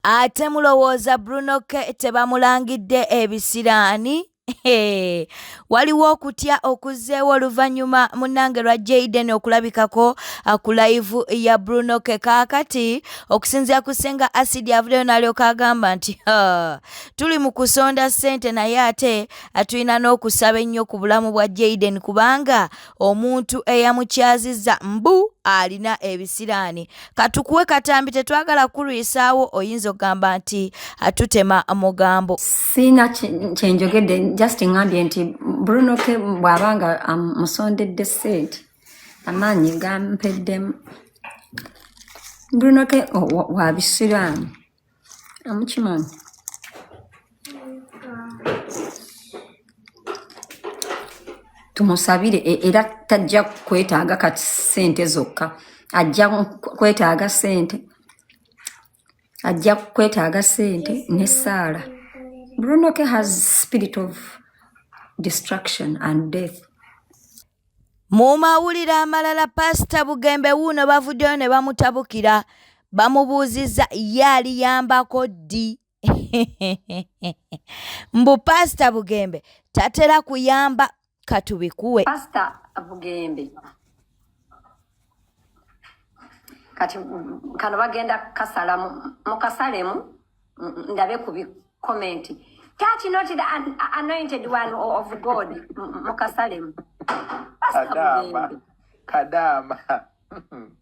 ate mulowooza bruno ke tebamulangidde ebisiraani waliwo okutya okuzzeewo oluvannyuma munnange lwa jaden okulabikako uh, ku layivu ya bruno ke kaakati okusinziira ku ssenga asidi avuddeyo n'alyoka agamba nti tuli mu kusonda ssente naye ate uh, tulina n'okusaba ennyo ku bulamu bwa jaden kubanga omuntu eyamukyazizza mbu alina ebisiraani katukuwe katambi tetwagala kulwisaawo oyinza okugamba nti atutema mugambo siina kyenjogedde just ngambye nti brunoke bw'aba nga um, musondedde sente amaanyi gampeddemu brunoke wabisiraani amukimanyi tumusabire e, era tajja kwetaaga kati sente zokka ajja kwetaaga sente ajja kwetaaga sente ne saala brunoke has spirit of destruction and death Mu mawulire amalala Paasita Bugembe wuuno bavuddeyo ne bamutabukira bamubuuzizza ye aliyambako ddi mbu Paasita Bugembe tatera kuyamba katubikuwe Paasita Bugembe kati kano bagenda kasala mukasalemu ndabe ku bikomenti touch not the an anointed one of god mukasalemu kadama kadama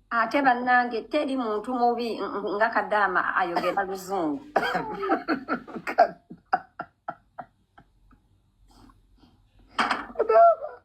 ate bannange teri muntu mubi nga kadama ayogera luzungu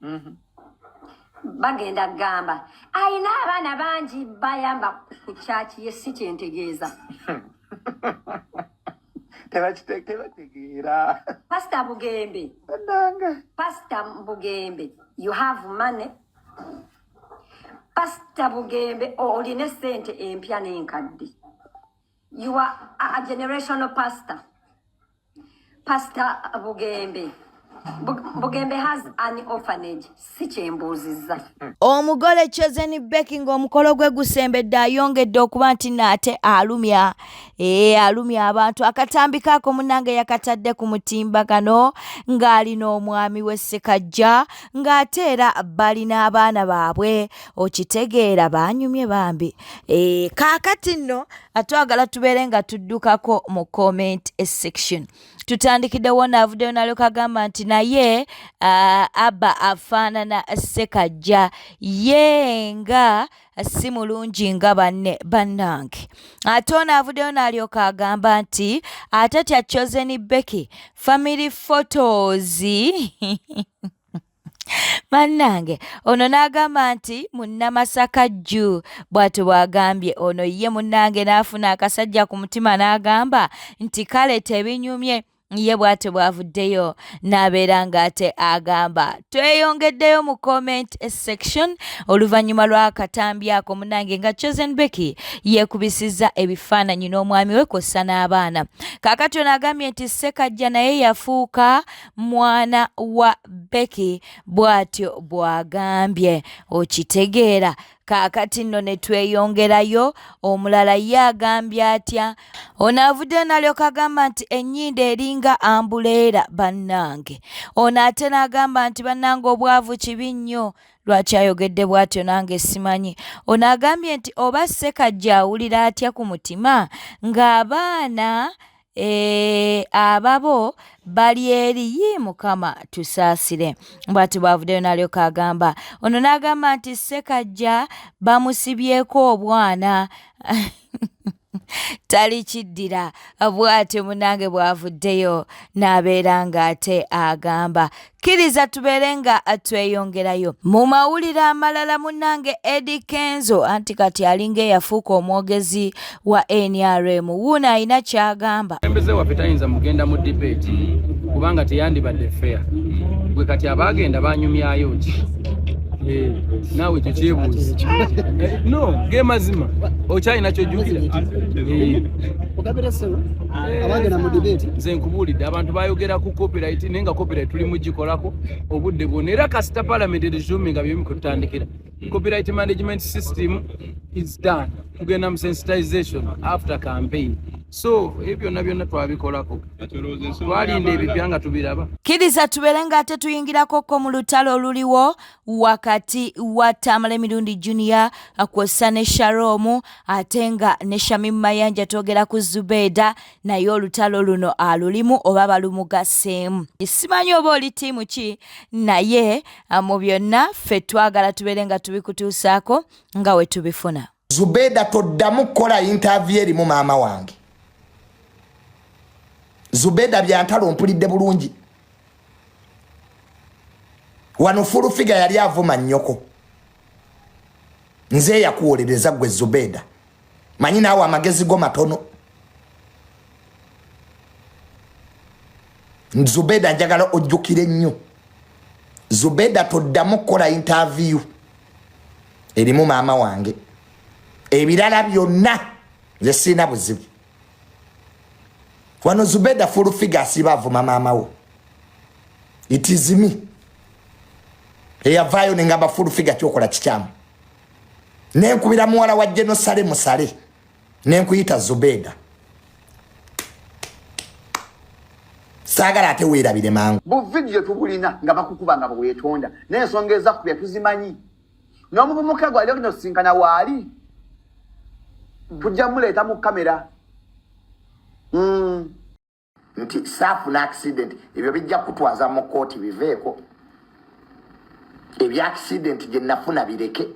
mm-hmm. bagenda kugamba alina abaana bangi bayamba ku kyaki ye si kyentegeeza tebategeera pasita bugembe pasita bugembe you have money pasita bugembe olina esente empya n'enkadde you are a generational pastor Pastor Bugembe. Bugembe has an orphanage si kyembuuzizza omugole chosen beki ng'omukolo gwe gusembedde ayongedde okuba nti naate alumya ee alumya abantu akatambi kaako munange yakatadde ku mutimbagano ng'ali n'omwami we ssekajja ng'ate era balina abaana baabwe okitegeera baanyumye bambi ee kaakati nno atwagala tubeere nga tuddukako mu comment section tutandikiddewo naavuddeyo nalyoka agamba nti naye uh, abba afaanana sekajja ye nga si mulungi nga banne bannange ate ono avuddeyo n'alyoka agamba nti ate tya chosen becky family photos bannange ono n'agamba nti munnamasaka jju bw'ati bw'agambye ono ye munnange n'afuna akasajja ku mutima n'agamba nti kale tebinyumye ye bw'ati bw'avuddeyo n'abeera ng'ate agamba tweyongeddeyo mu comment section oluvannyuma lw'akatambi ako munnange nga chosen becky yeekubisizza ebifaananyi n'omwami we kw'ossa n'abaana kaakati ono agambye nti ssekajja naye yafuuka mwana wa beki bw'atyo bw'agambye okitegeera kaakati nno ne tweyongerayo omulala ye agambye atya ono avuddeyo nalyoka agamba nti ennyindo eringa ambuleera bannange ono ate n'agamba nti bannange obwavu kibi nnyo lwaki ayogedde bw'atyo nange simanyi ono agambye nti oba ssekajja awulira atya ku mutima ng'abaana Eh, ababo bali eri yii mukama tusaasire bwati bwavuddeyo n'alyoka agamba ono n'agamba nti ssekajja bamusibyeko obwana talikiddira bwatyo munange bwavuddeyo n'abeera ng'ate agamba kkiriza tubeere nga tweyongerayo mu mawulire amalala munnange edi kenzo anti kati alinga eyafuuka omwogezi wa nrm wuuno alina kyagamba embeze waffe tayinza mugenda mu debate kubanga teyandibadde fair gwe kati abaagenda banyumyayo ki eh, naawe ekyo kyebuuzi eh, no ge mazima okyalina kyojjukira eh. nze nkubuulidde abantu bayogerako copyright naye nga copyright tuli mugikolako obudde bwona era kasita parliament eresuminga byemu kututandikira copyright management system is done tugenda mu sensitization after campaign so ebyo byonna byonna twabikolako twalinda ebipya nga tubiraba kiriza tubeere nga ate tuyingirako ko mu lutalo oluliwo wakati wa tamala emirundi junior kwossa ne sharomu ate nga ne shamim mayanja twogera ku zubeeda naye olutalo luno alulimu oba balumugaseemu simanyi oba oli tiimu ki naye ah, mu byonna ffe twagala tubeere nga tubikutuusaako nga we tubifuna zubeeda toddamu kukola yintaaviyo erimu maama wange zubeeda byantalo mpulidde bulungi wano fulufiga yali avuma nnyoko nze eyakuwolereza gwe zubeeda manyi naawe amagezi go matono zubeda njagala ojjukire nnyo zubeda toddamu kukola intaviyu erimu maama wange ebirala byonna nze sirina buzibu wano zubeda fulufiga asiba avuma maama wo itizimi eyavaayo nengamba fulufiga kyokola kikyamu nenkubira muwala wa jenosale musale nenkuyita zubeda saagala ate weerabire mangu buvidiyo tubulina nga bakukuba nga bwewetonda naye ensonga ezakubya tuzimanyi n'omuvubuka gwali ogenda osisinkana waali tujja muleeta mu kamera mm. nti saafuna accident ebyo bijja kutwaza mu kooti biveeko ebya accident gye nafuna bireke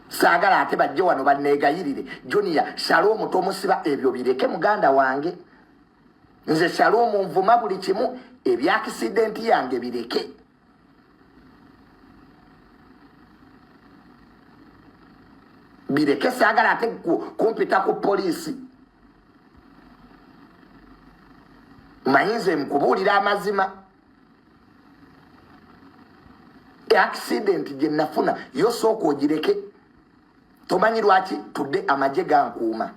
saagala ate bajje wano banneegayirire junior sala omuto omusiba ebyo bireke muganda wange nze sala omunvuma buli kimu ebya accident yange bireke bireke saagala ate kumpita ku poliisi mayinza emukubuulira amazima accident gye nafuna yosooka ogireke tomanyi lwaki tudde amagye gankuuma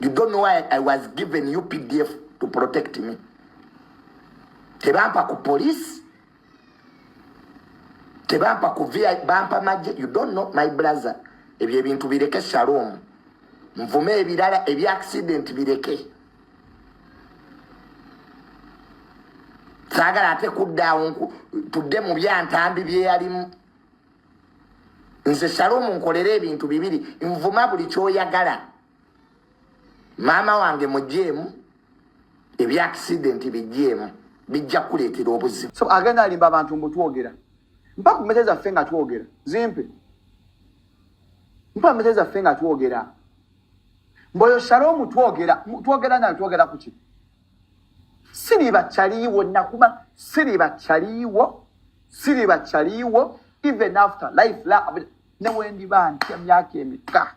You don't know why I was given you PDF to protect me. Tebampa ku police. Tebampa ku VI bampa maje. You don't know my brother. Ebyo ebintu bireke shalom. Mvume ebirala ebi accident bireke. Sagala ate kudda onku tudde mu byantambi byeyalimu. nze shalom nkolera ebintu bibiri nvuma buli kyoyagala maama wange mujeemu ebya accident bijeemu bijja kukuleetera obuzibu so agenda alimba abantu mbutwogera mpa ku mete zaffe nga twogera zimpe mpa mete zaffe nga twogera mboyo shalom twogera twogera nayo twogera kuki siriba kyaliiwo nakuma siriba kyaliiwo siriba kyaliiwo even after life la newendiba ntya myaka emika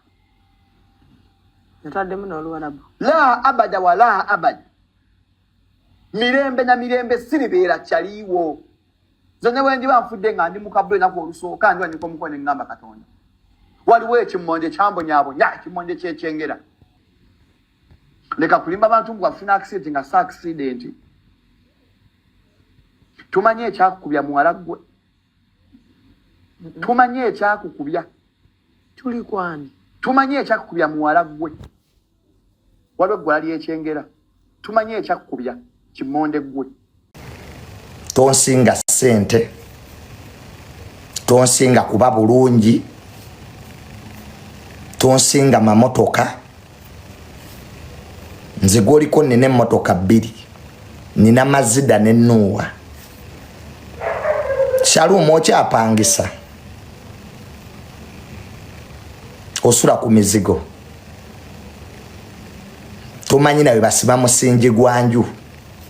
nataddemu noluwarabu la abada wala abada mirembe na mirembe siribeera kyaliiwo nze newendiba nfudde nga ndi mukabula enaku olusooka ndi wanyika omukono engamba katonda waliwo ekimmonde kyambonyabonya ekimmonde kyekyengera leka kulimba bantu mbu wafuna accident nga sa accident tumanyi ekyakukubya muwala gwe tumanyi ekyakukubya tuli kwani tumanyi ekyakukubya muwala gwe waliwo eggwala lyekyengera tumanyi ekyakukubya kimonde gwe tonsinga sente tonsinga kuba bulungi tonsinga mamotoka nze gwoliko nina emotoka bbiri nina mazida ne nuuwa shalumu okyapangisa osula ku mizigo tomanyi nawe basiba musingi gwanju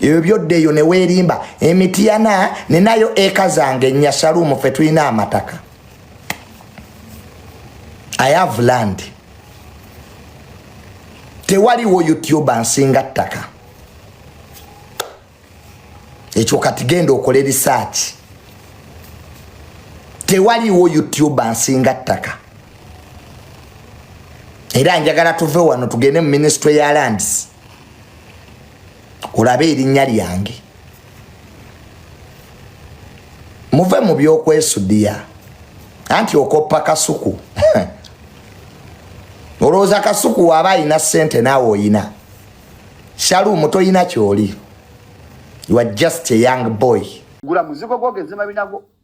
ebyo byodda eyo neweerimba emityana ninayo eka zange nyasaluumu fe tulina amataka i have land tewaliwo youtuba nsinga ttaka ekyo kati genda okole risaaki tewaliwo youtuba nsinga ttaka era njagala tuve wano tugende mu minisitule ya lands olabe erinnya lyange muve mu byokwesudiya anti okoppa kasuku olowooza kasuku waaba alina sente naawe oyina shalumu toyina kyoli you are just a young boy gula muzigo gwogezema binago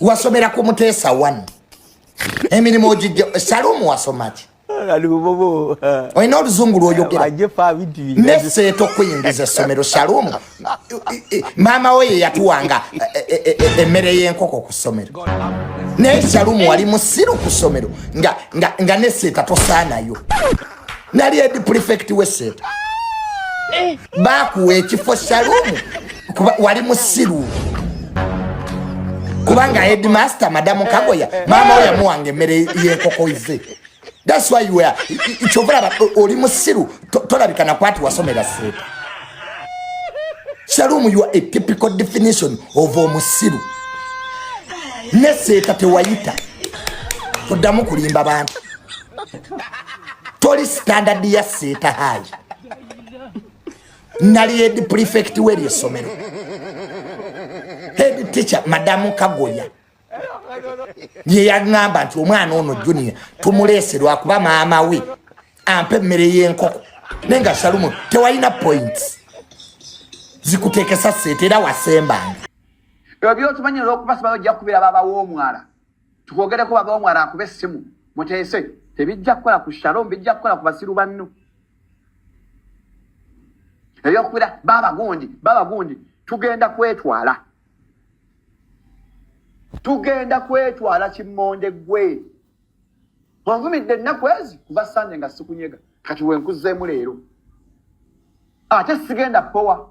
wasomera ku muteesa one emirimu ogijja salumu wasomaki olina oluzungu lwoyogera neseeta okuyingiza essomero salumu maama we ye yatuwanga e, e, e, emmere y'enkoko ku ssomero naye salumu wali musiru ku ssomero nga neseeta tosaanayo nali edi prefect wesente eh. bakuwa ekifo salumu kuba wali musiru kubanga headmaster madamu eh, kagoya eh, maama oyo yamuwanga emmere yenkoko ize thats why you are kyova laba oli musiru tolabika nakwati wasomera seeta salumu you are a typical definition of omusiru ne seeta tewayita toddamu kulimba bantu toli standard ya seeta haji nali head prefect weri esomero head teacher madamu kagoya ye yagamba nti omwana ono junior tumuleese lwakuba maama we ampa emmere y'enkoko naye nga salumu tewalina points zikuteekesa seeta era wasembanga ebyo byokimanyi olwokuba simanyi ojja kukubira baba w'omwala tukwogereko wagawo mwala akube essimu muteese tebijja kukola ku shalom bijja kukola ku basiru banno ebyokubira baba gundi baba gundi tugenda kwetwala tugenda kwetwala kimmonde gwe onvumidde ennaku ezi kuva sande nga sikunyega kati wenkuzeemu leero ate sigenda powa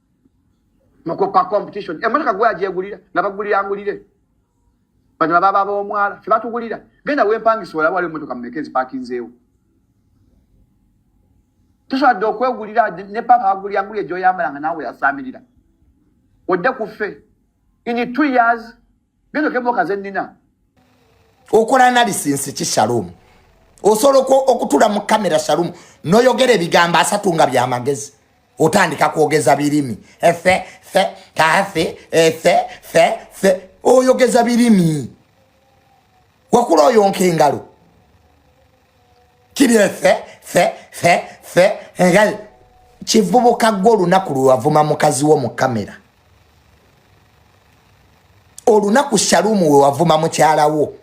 mukuka competition emotoka gwe agyegulira nabagulira angulire bano ababa b'omwala fe batugulira genda wempangisa olaba waliwo emotoka mumeka ezipakinzeewo tusobola dde okwegulira ne papa agulira angulire gyoyambala nga naawe yasaamirira odde ku ffe in two years Neno kebo kaze nina. Okola analysis ki Shalom. Osolo ko okutula mu camera Shalom. No yogere bigamba asatu nga bya magezi. Otandika kuogeza birimi. Efe fe ta fe efe fe fe. Oyogeza birimi. Wakula oyonke ngalo. kibye fe fe fe fe nga kivubuka gwe olunaku lwewavuma mukazi wo mu kamera olunaku shalumu wewavuma mukyala wo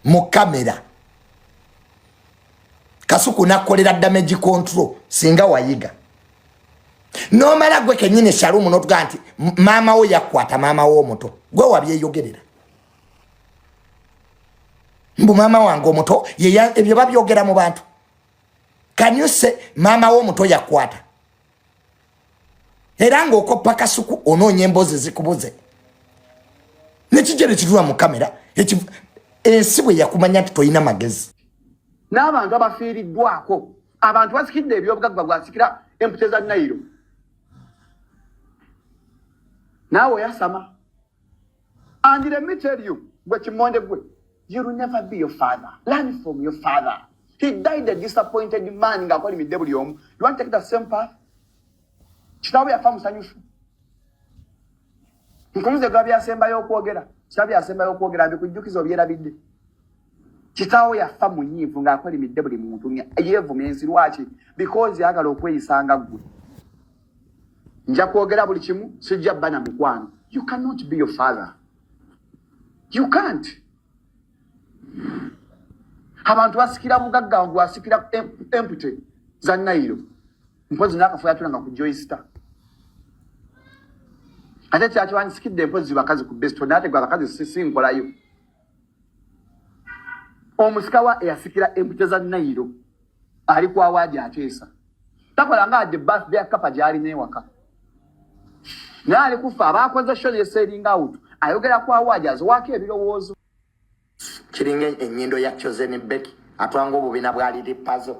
mu kamera kasuku nakolera damage control singa wayiga nomala gwe kenyini shalumu notuga nti maama wo yakwata maama wo omuto gwe wabyeyogerera mbu maama wange omuto ebyo babyogera mu bantu kanyuse maama we omuto yakwata era ngaokoppa kasuku onoonya emboozi zikubuze nekijere kirula mu kamera ensi bwe yakumanya nti tolina magezi n'abantu abafiiriddwako abantu basikidde ebyobugagga bwasikira empute za nayiro naawe oyasama And let me tell you, gwe kimonde gwe, you will never be your father. Learn from your father. He died a disappointed man nga akola imidde buli omu. You want to take the same path? Kitaawo yafa musanyufu. Nkunyuze gwa byasembayo okwogera. Kitaawo byasembayo okwogera mbikujjukiza obyerabidde. Kitaawo yafa munyiivu nga akola imidde buli muntu. Yeevuma ensi lwaki? Because yagala okweyisanga gwe. nja kwogera buli kimu sijja bana mukwano you cannot be your father you can't abantu basikira mugagga wangu asikira empty za nairo mpozi nakafuya tuna nga kujoyista ate kyakiwandisikidde mpozi bakazi ku besto nate gwa bakazi sisi nkolayo omusikawa eyasikira empute za nairo ali ku awaadi ateesa takola nga adde birthday akapa gyali newaka naye ali kufa abaakoze sho neseeringa awutu ayogera ku awaadi aziwaako ebirowoozo kiringa enyindo ya chosen beki atwanga obubina bwaliri pazo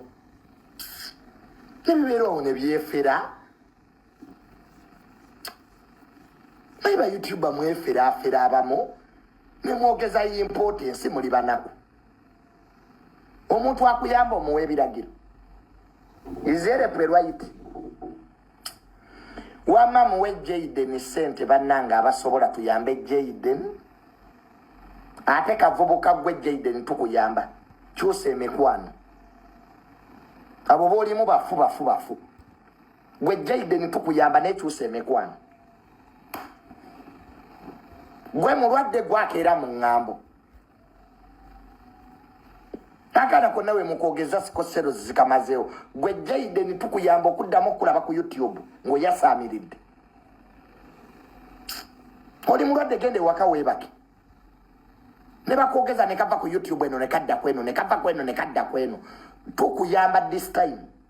nebibeera ono byefera naye bayoutuba mweferafera abamu nemwogezayo impoota ensi muli banaku omuntu akuyamba omuwa ebiragiro izereprerwit wama muwe jaden sente banange abasobola tuyambe jaden ate kavubuka gwe jaden tukuyamba kyusa emikwano abo bolimu bafu bafu bafu gwe jaiden tukuyamba nekyusa emikwano gwe mulwadde gwakeera mu ŋŋambo tagalako nawe mukwogeza sikosero zikamazeewo gwe jaiden tukuyamba okuddamu okulaba ku youtube ngaoyasaamiridde oli mulwadde genda ewaka weebake ne bakwogeza ne kava ku youtube eno ne kadda kweno ne kava kweno ne kadda kweno tukuyamba this time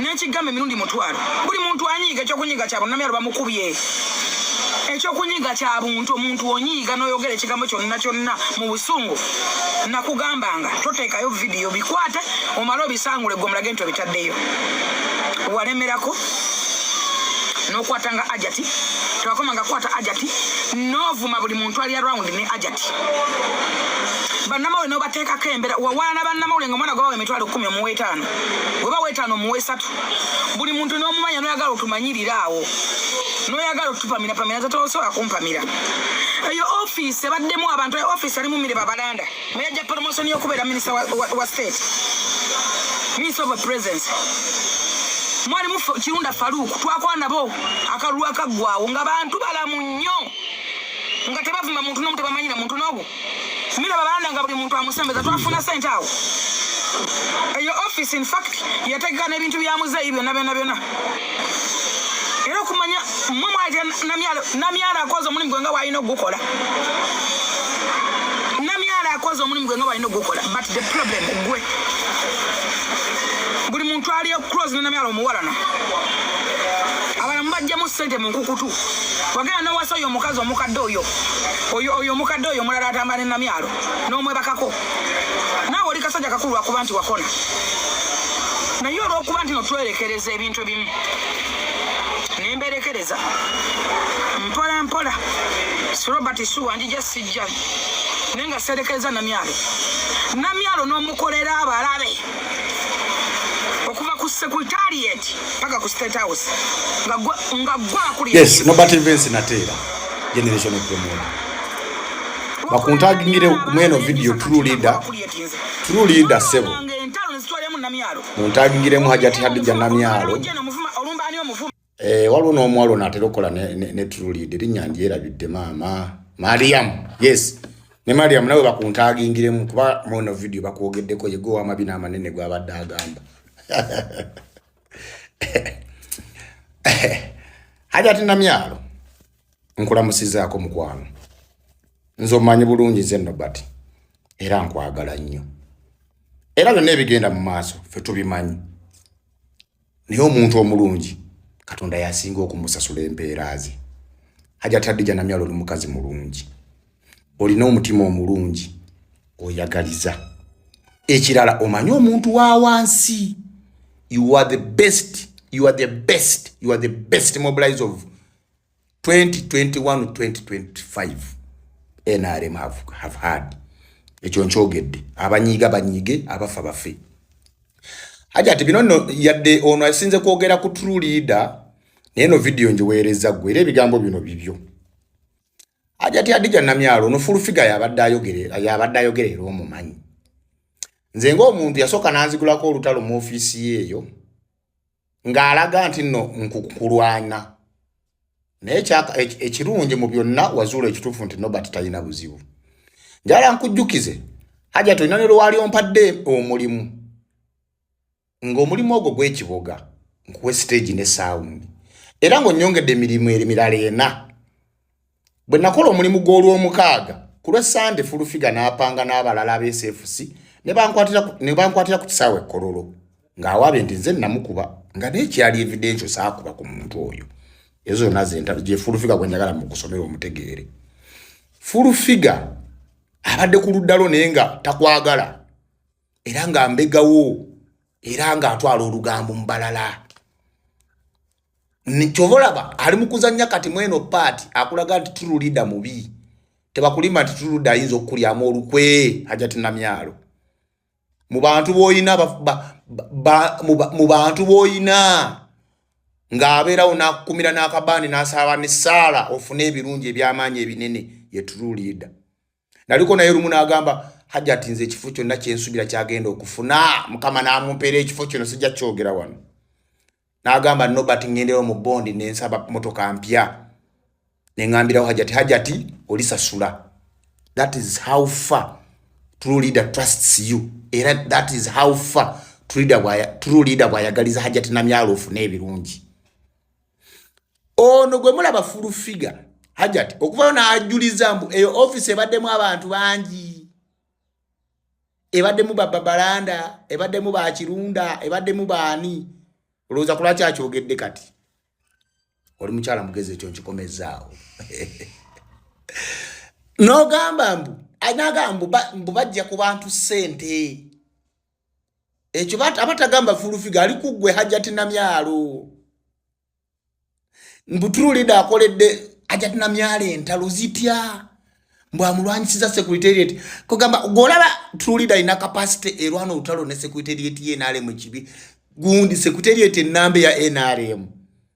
nekigamba emirundi mutwalo buli muntu anyiiga ekyokunyiiga kyabwe namyalo bamukubye ekyokunyiga kya buntu omuntu onyiiga noyogera ekigambo kyonna kyonna mu busungu nakugambanga toteekayo vidiyo bikwate omale obisangule gwe omulage nti obitaddeyo walemerako nokwata nga ajati tewakoma nga kwata ajati novuma buli muntu ali around ne ajati bannamawule nobateekako embera wawaana bannamawule nga omwana gwabawa emitwalo kumi omuwa etaano weba wetano muwesatu buli muntu nomumanya noyagala otumanyirira awo noyagala otupamira pamira zatosobola kumpamira eyo office ebaddemu abantu eyo office alimu mire babalanda meyajja promotion yokubeera minisita wa, wa, wa state minisita of presence mwalimu kirunda faruku twakwanabo akalulu akaggwawo nga bantu balamu nnyo nga tebavuma muntu nomu tebamanyira muntu nobu Mira balanda nga buli muntu amusembeza twafuna sente awo eyo office in fact yategeka n'ebintu bya muzeeyi byonna byonna byonna era okumanya mwe mwaleta namyala akoze omulimu gwe nga walina ogukola namyala akoze omulimu gwe nga walina ogukola but the problem gwe buli muntu aliyo close nenamyala omuwalana abalamu bajjamu sente mu nkukutu wagenda nowasa oyo omukazi omukadde oyo oyo oyo omukadde oyo omulala atamba ne namyalo n'omwebakako naawe oli kasajja kakulu lwakuba nti wakona naye olwokuba nti no twerekereza ebintu ebimu nemberekereza mpola mpola sirobert suwa njija sijja naye nga serekereza namyalo namyalo n'omukolera abalabe okuva ku secretariat paka ku state house nga gwa akuliyes nobert vince nateera generation of promote bakuntagingire mweno video true leader true leader sebo muntagingiremu hajati hadija namyalo eh, waliwo n'omuwala ono atera okukola ne true leader erinnya ndyerabidde maama mariam yes ne mariam nawe bakuntagingiremu kuba mweno video bakwogeddeko yegowa amabina amanene gwabadde agamba hajati namyalo nkulamusizaako mukwano nze omanyi bulungi nze nobert era nkwagala nnyo era byonna ebigenda mu maaso fe tubimanyi naye omuntu omulungi katonda yasinga okumusasula empeera ze hajati adija namyalo oli mukazi mulungi olina omutima omulungi oyagaliza ekirala omanyi omuntu wa wansi you are the best you are the best you are the best mobilize of 2021-2025 nrm have, have had ekyo nkyogedde abanyiiga banyiige abafa bafe haja ati bino no yadde ono asinze kwogera ku true leader naye no video njiweereza gwe era ebigambo bino bibyo ajati adija namyalo no full figure yabadde ayogerera yabadde ayogerera omumanyi nze ng'omuntu yasooka nanzigulako olutalo mu ofiisi yeeyo ng'alaga nti nno nkukulwana naye ekirungi mu byonna wazuula ekituufu nti nobert talina buzibu njala nkujjukize hajati olina ne lwewali ompadde omulimu ng'omulimu ogwo gw'ekiboga nkuwe siteegi ne saawundi era ng'onnyongedde emirimu emirala ena bwe nakola omulimu gw'olwomukaaga ku lwa sande fulufiga n'apanga n'abalala absfc ne bankwatira ku kisaawa ekkololo ng'awaabye nti nze namukuba nga n'ekyali evidensio saakuba ku muntu oyo ezo zonna zentalo gye fulufiga gwe njagala mu kusomera omutegeere fulufiga abadde ku luddalo naye nga takwagala era nga mbegawo era nga atwala olugambo mubalala kyova olaba ali mukuzanya kati mweno paati akulaga nti tululida mubi tebakulima nti tuludde ayinza okukulyamu olukwe hajati namyalo mu bantu boyina mu bantu boyina ng'abeerawo n'akukumira n'akabaani n'asaba n'essaala ofune ebirungi eby'amaanyi ebinene ye true leader naliko naye lumu n'agamba hajati nze ekifo kyonna kyensubira kyagenda okufuna mukama n'amumpeera ekifo kyono sijja kyogera wano n'agamba nobert ngendewo mu bondi nensaba motoka mpya nengambirawo hajati hajati olisasula that is how far true leader trusts you era that is how far true leader bwayagaliza hajati namyalo ofune ebirungi ono gwe mulaba fulu figa hajati okuvayo n'ajuliza mbu eyo ofisi ebaddemu abantu bangi ebaddemu bababalanda ebaddemu bakirunda ebaddemu baani olowooza kulwaki akyogedde kati oli mukyala mugezi ekyo nkikomezaawo nogamba mbu anagamba mbu bajja ku bantu ssente ekyo abatagamba fulufiga ali kuggwe hajjati namyalo mbutululida akoledde hajjati namyalo entalo zitya mbu amulwanyisiza secretariat kugamba golaba tulida ina capacity erwana utalo ne secretariat ye nale mu kibi gundi secretariat enambe ya NRM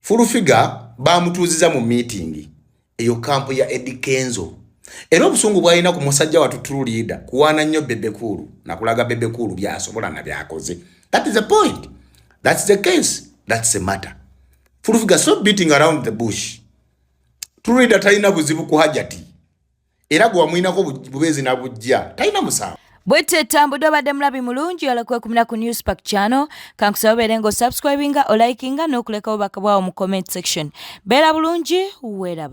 fulufiga bamutuuziza mu miitingi eyo kampu ya edi kenzo era obusungu bwalina ku musajja watu true leader kuwaana nnyo bebekuulu nakulaga bebekuulu byasobola na byakoze that is the point that's the case that's the matter fulufiga stop beating around the bush true leader talina buzibu ku hajati era gwe wamuyinako bubeezi na bujja talina musango bwetyo etambudde obadde mulabi mulungi yala kwekumira ku news pack channel kankusaba obeere nga osubscribinga olikinga n'okulekawo bakabwawo mu comment section beera bulungi weeraba